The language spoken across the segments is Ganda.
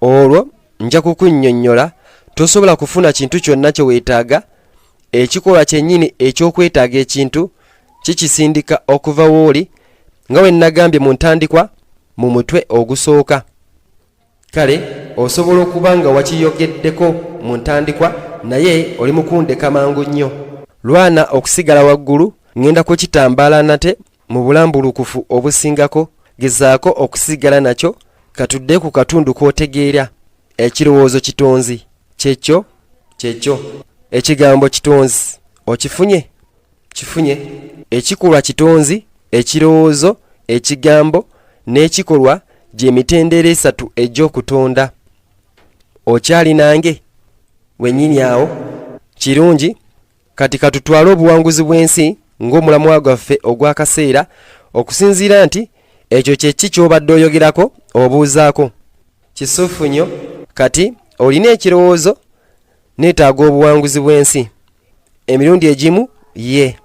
olwo nja kukunnyonnyola tosobola kufuna kintu kyonna kye weetaaga ekikolwa kyennyini eky'okwetaaga ekintu kikisindika okuva wooli nga we nnagambye mu ntandikwa mu mutwe ogusooka kale osobola okuba nga wakiyogeddeko mu ntandikwa naye oli mukundeka mangu nnyo lwana okusigala waggulu ŋŋenda kukitambaala nate Mu bulambulukufu obusingako, gezaako okusigala nakyo katudde ku katundu k'otegeera. Ekirowoozo kitonzi kyekyo kyekyo. Ekigambo kitonzi okifunye? Kifunye. Ekikolwa kitonzi, ekirowoozo, ekigambo, n'ekikolwa gye mitendera esatu egy'okutonda. Okyali nange? Wennyini awo. Kirungi. kati katutwale obuwanguzi bw'ensi ng'omulamwa gwaffe ogw'akaseera okusinziira nti ekyo kye ki ky'obadde oyogerako obuuzaako kisufu nnyo kati olina ekirowoozo neetaaga obuwanguzi bw'ensi emirundi egimu ye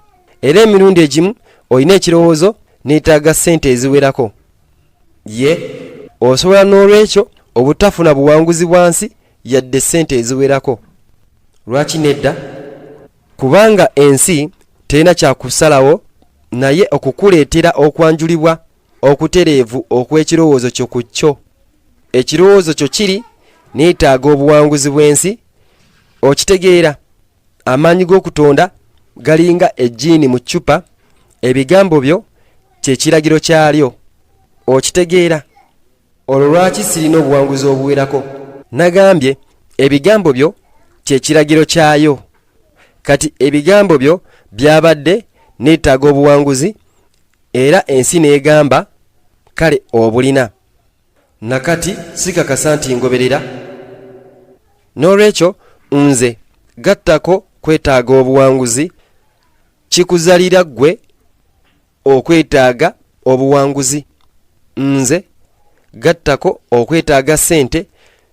era emirundi egimu olina ekirowoozo neetaaga ssente eziwerako ye osobola n'olwekyo obutafuna buwanguzi bwa nsi yadde ssente eziwerako lwaki nedda kubanga ensi terina kyakusalawo naye okukuleetera okwanjulibwa okutereevu okw'ekirowoozo kyo ku kyo ekirowoozo kyo kiri neetaaga obuwanguzi bw'ensi okitegeera amaanyi g'okutonda galinga ejjiini mu ccupa ebigambo byo kyekiragiro kyalyo okitegeera olwo lwaki sirina obuwanguzi obuwerako nagambye ebigambo byo kyekiragiro kyayo kati ebigambo byo byabadde neetaaga obuwanguzi era ensi neegamba kale obulina nakati sikakasa nti ngoberera n'olwekyo nze gattako kwetaaga obuwanguzi kikuzalira ggwe okwetaaga obuwanguzi nze gattako okwetaaga ssente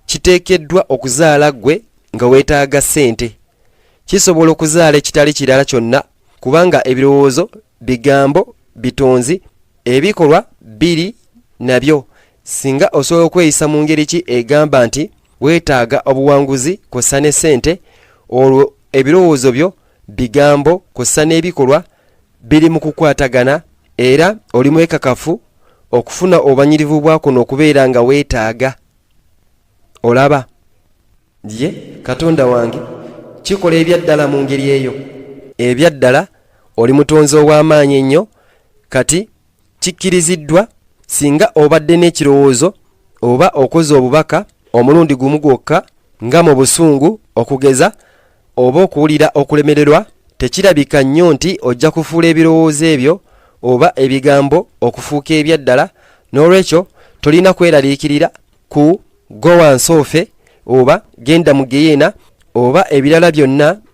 kiteekeddwa okuzaala ggwe nga weetaaga ssente kisobola okuzaala ekitali kirala kyonna kubanga ebirowoozo bigambo bitonzi ebikolwa biri nabyo singa osobola okweyisa mu ngeri ki egamba nti weetaaga obuwanguzi kw'ossa ne ssente olwo ebirowoozo byo bigambo kw'ossa n'ebikolwa biri mu kukwatagana era oli mwekakafu okufuna obanyirivu bwa kuno okubeera nga weetaaga olaba ye katonda wange kikola ebyaddala mu ngeri eyo ebyaddala oli mutonzi ow'amaanyi ennyo kati kikkiriziddwa singa obadde n'ekirowoozo oba okoze obubaka omulundi gumu gwokka nga mu busungu okugeza oba okuwulira okulemererwa tekirabika nnyo nti ojja kufuula ebirowoozo ebyo oba ebigambo okufuuka ebyaddala n'olwekyo tolina kweraliikirira ku gowansoofe oba genda mu geyeena oba ebirala byonna